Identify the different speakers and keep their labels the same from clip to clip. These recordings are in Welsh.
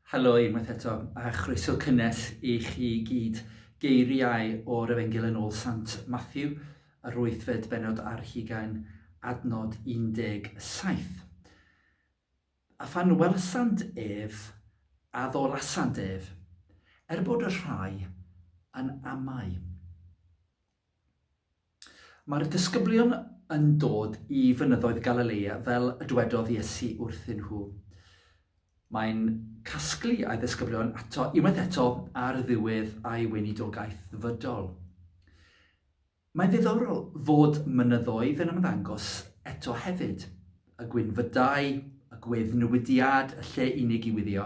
Speaker 1: Helo unwaith eto, a chroeso cynnes i chi i gyd. Geiriau o'r Efengyl yn ôl Sant Matthew, yr wythfed benod ar hugain, adnod 17. A phan welsant ef, a ddolasant ef, er bod y rhai yn amau. Mae'r disgyblion yn dod i fynyddoedd Galilea fel y dwedodd Iesu wrthyn nhw. Mae'n casglu a'i ddisgyblion ato unwaith eto ar ddiwedd a'i weinidogaeth ddyfodol. Mae'n ddiddorol fod mynyddoedd yn ymddangos eto hefyd. Y gwynfydau, y gwedd newidiad, y lle unig i wyddio,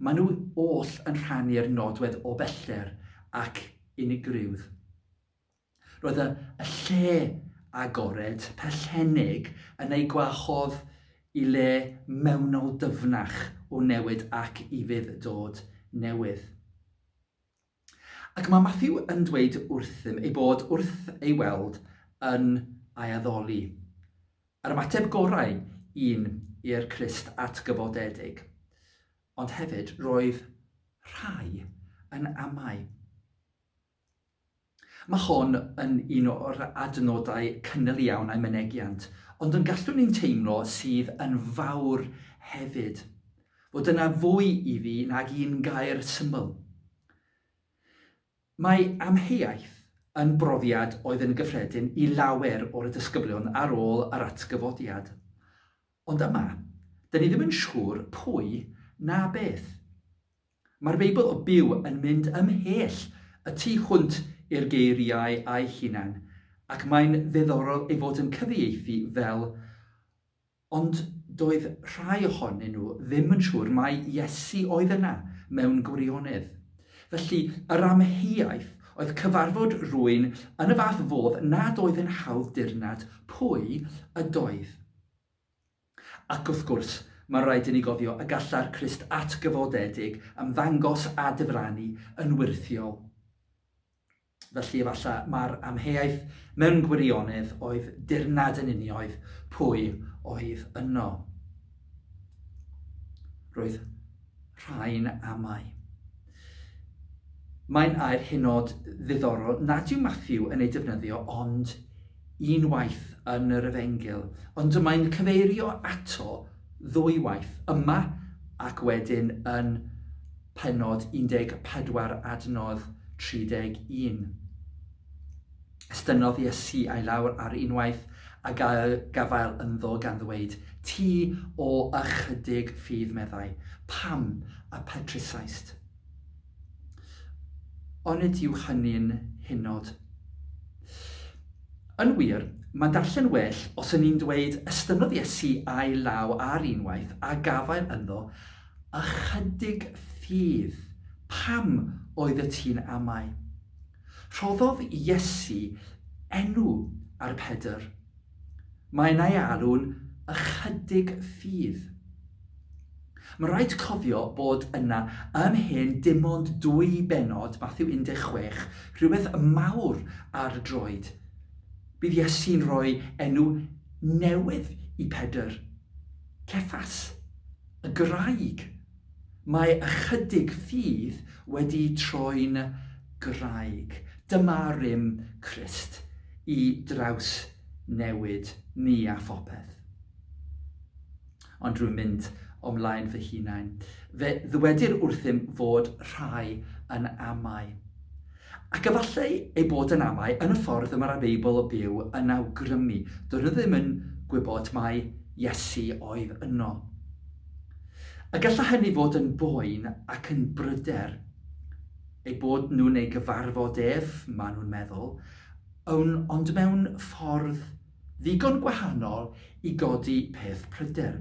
Speaker 1: maen nhw oll yn rhannu'r nodwedd o bellter ac unigrywdd. Roedd y lle agored, pellennig, yn ei gwahodd i le mewnol dyfnach o newid ac i fyd-dod newydd. Ac mae Matthew yn dweud wrthym ei bod wrth ei weld yn aeaddoli. Yr ymateb gorau un i'r Crist atgyfodedig. Ond hefyd roedd rhai yn amau. Mae hon yn un o'r adnodau cynnil iawn a'i mynegiant, ond yn gallwn ni'n teimlo sydd yn fawr hefyd, fod yna fwy i fi nag un gair syml. Mae amheuaeth yn brofiad oedd yn gyffredin i lawer o'r disgyblion ar ôl yr atgyfodiad. Ond yma, dyn ni ddim yn siŵr pwy na beth. Mae'r Beibl o Byw yn mynd ymhell y tu hwnt i'r geiriau eu hunain, ac mae'n ddiddorol ei fod yn cyfieithu fel Ond doedd rhai ohonyn nhw ddim yn siŵr mai Iesu oedd yna mewn gwirionedd. Felly, yr amheuaeth oedd cyfarfod rwy'n yn y fath fodd nad oedd yn hawdd dirnad pwy ydoedd. Ac wrth gwrs, mae'n rhaid inni gofio y gallai'r Crist atgyfodedig ymddangos a difrannu yn wyrthiol. Felly efallai mai'r amheuaeth mewn gwirionedd oedd dirnad yn unioedd pwy oedd yno. Roedd rhai'n amau. Mae'n air hynod ddiddorol nad yw Matthew yn ei defnyddio ond unwaith yn yr Efengyl, ond mae'n cyfeirio ato ddwywaith, yma ac wedyn yn pennod 14 adnodd 31. Estynnodd Iesu ei lawr ar unwaith a gafael ynddo gan ddweud, Ti o ychydig ffydd, meddai, pam a petrisaist? Onid yw hynny'n hynod? Yn wir, mae'n darllen well os yn ni'n dweud estynnodd Iesu a'i law ar unwaith a gafael ynddo ychydig ffydd. Pam oedd y ti'n amau? Rhoddodd Iesu enw ar Pedr. Mae'n ei alw'n ychydig ffydd. Mae'n rhaid cofio bod yna yn hen dim ond dwy bennod, Mathew 16, rhywbeth mawr ar y droed. Bydd Iesu'n rhoi enw newydd i Pedr, Cephas, y Graig Mae ychydig ffydd wedi troi'n graig. Dyma rym Crist i drawsnewid ni a phopeth. Ond rwy'n mynd o'm mlaen fy hunain. Fe ddywedir wrthym fod rhai yn amau. Ac efallai ei bod yn amau yn y ffordd y mae'r Beibl o byw yn awgrymu, doedden nhw ddim yn gwybod mai Iesu oedd yno. A gallai hynny fod yn boen ac yn bryder eu bod nhw'n ei gyfarfod ef, maen nhw'n meddwl, ond mewn ffordd Ddigon gwahanol i godi peth pryder.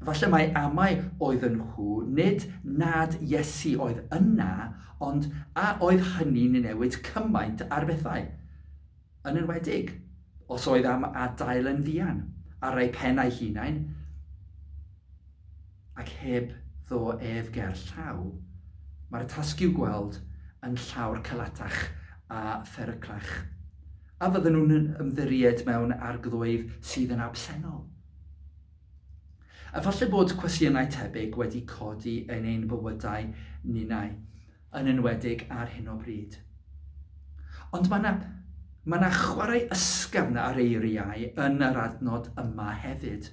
Speaker 1: Falle mai amau oedd yn nhw, nid nad Iesu oedd yna, ond a oedd hynny'n newid cymaint ar bethau? Yn enwedig, os oedd am adael yn fuan, ar ei phen a'i hunain? ac heb ddo ef ger llaw, mae'r tasg i'w gweld yn llawr calatach a pheryglach. A fydden nhw'n ymddiried mewn arglwydd sydd yn absennol? A falle bod cwestiynau tebyg wedi codi yn ein bywydau ninnau. yn enwedig ar hyn o bryd. Ond mae yna mae yna chwarae ysgafn ar eiriau yn yr adnod yma hefyd.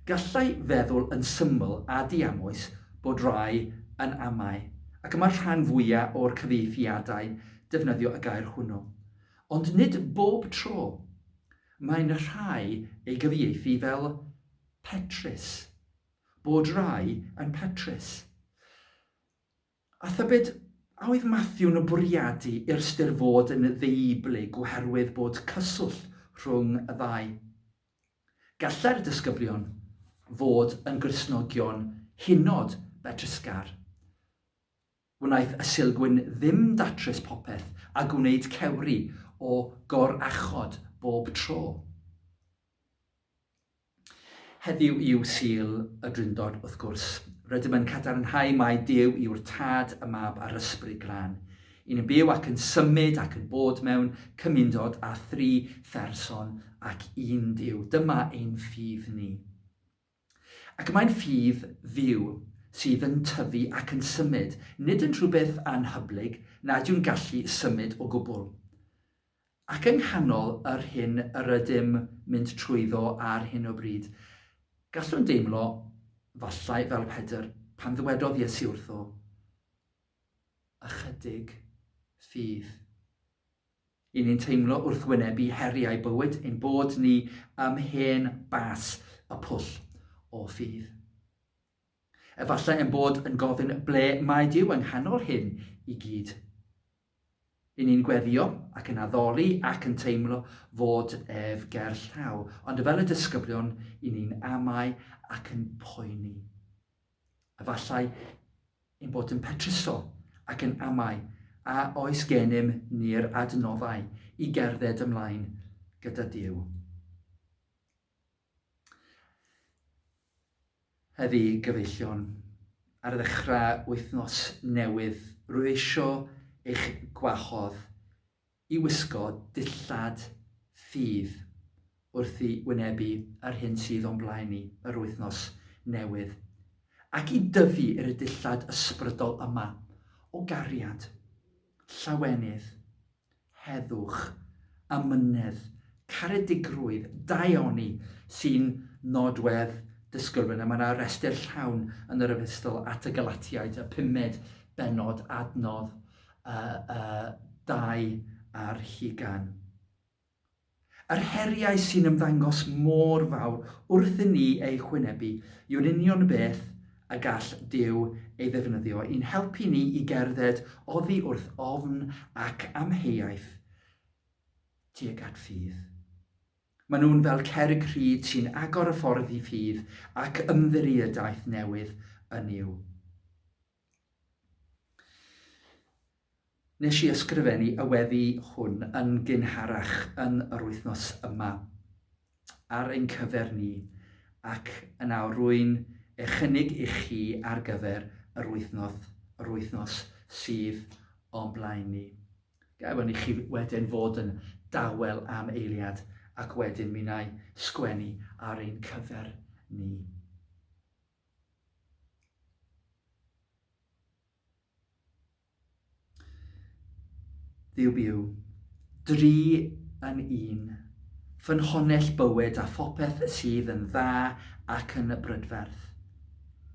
Speaker 1: Gallai feddwl yn syml a diamwys bod rai yn amau, ac y mae'r rhan fwyaf o'r cyfieithiadau'n defnyddio y gair hwnnw. Ond nid bob tro. Mae'n rhai ei gyfieithu fel petrus. Bod rai yn petrus. A thybed a oedd Matthew'n y bwriadu i'r ystyr fod yn ddeublyg oherwydd bod cyswllt rhwng y ddau? Gallai'r disgyblion fod yn Gristnogion hynod betrusgar. Wnaeth y Sulgwyn ddim datrys popeth a gwneud cewri o gorachod bob tro. Heddiw yw Sul y Drindod, wrth gwrs. Rydym yn cadarnhau mai Duw yw'r Tad, y Mab a'r Ysbryd Glân. Un yn byw ac yn symud ac yn bod mewn cymundod â thri pherson ac un Duw. Dyma ein ffydd ni. Ac mae'n ffydd fyw sydd yn tyfu ac yn symud, nid yn rhywbeth anhyblyg nad yw'n gallu symud o gwbl. Ac yng nghanol yr hyn yr ydym mynd trwyddo ar hyn o bryd, gallwn deimlo, falle, fel Pedr, pan ddywedodd Iesu wrtho, Ychydig fydd. I ni'n teimlo wrth wynebu heriau bywyd ein bod ni ym hen bas y pwll o ffydd. Efallai ein bod yn gofyn ble mae Dyw yng nghanol hyn i gyd. Yn ni'n gweddio ac yn addoli ac yn teimlo fod ef ger llaw, ond fel y disgyblion, yn ni'n amau ac yn poeni. Efallai ein bod yn petruso ac yn amau a oes gennym ni'r adnoddau i gerdded ymlaen gyda Dyw. Heddi, gyfeillion, ar ddechrau wythnos newydd, rwyf eisiau eich gwahodd i wisgo dillad ffydd wrth i wynebu yr hyn sydd o'n blaen ni yr wythnos newydd, ac i dyfu i'r y dillad ysbrydol yma o gariad, llawenydd, Heddwch, amynedd, caredigrwydd, daioni sy'n nodwedd dysgwr yna. Mae yna restr llawn yn yr Epistl at y Galatiaid, y pumed bennod, adnodd uh, uh, dau ar hugan. Yr heriau sy'n ymddangos mor fawr wrth i ni eu hwynebu yw'r union beth y gall Duw ei ddefnyddio i'n helpu ni i gerdded oddi wrth ofn ac amheuaeth tuag at ffydd. Maen nhw'n fel cerrig rhyd sy'n agor y ffordd i ffydd ac ymddiriedaeth newydd yn Nuw. Nes i ysgrifennu y weddi hwn yn gynharach yn yr wythnos yma ar ein cyfer ni, ac yn awr rwy'n ei chynnig i chi ar gyfer yr wythnos, yr wythnos sydd o'n blaen ni. Gawyn i chi wedyn fod yn dawel am eiliad ac wedyn mi wna i sgwennu ar ein cyfer ni. Byw byw. Dri yn un. Ffynhonnell bywyd a phopeth sydd yn dda ac yn y brydferth.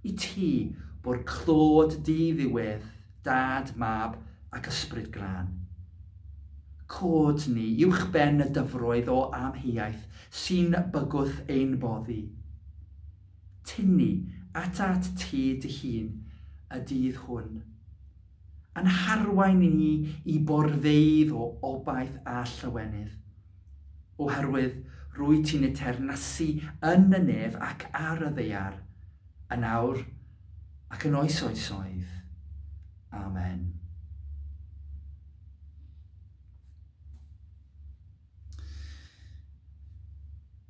Speaker 1: I ti, bo'r clod di ddiwedd, dad, mab ac ysbryd glân. Cod ni uwchben y dyfroedd o amheuaeth sy'n bygwth ein boddi. tynnu ata at ti dy hun y dydd hwn, yn harwain ni i borfeydd o obaith a llawenydd. Oherwydd rwy ti'n y teyrnasu yn y nef ac ar y ddaear, yn awr ac yn oes oesoedd. Amen.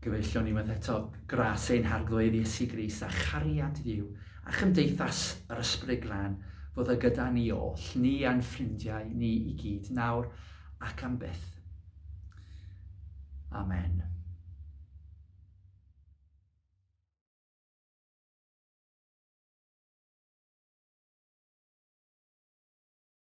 Speaker 1: Gyfeillion ni unwaith eto, gras ein harglwydd Iesu Grist a chariad Duw a chymdeithas yr Ysbryd Glân fod y gyda ni oll, ni a'n ffrindiau ni i gyd, nawr ac am byth. Amen.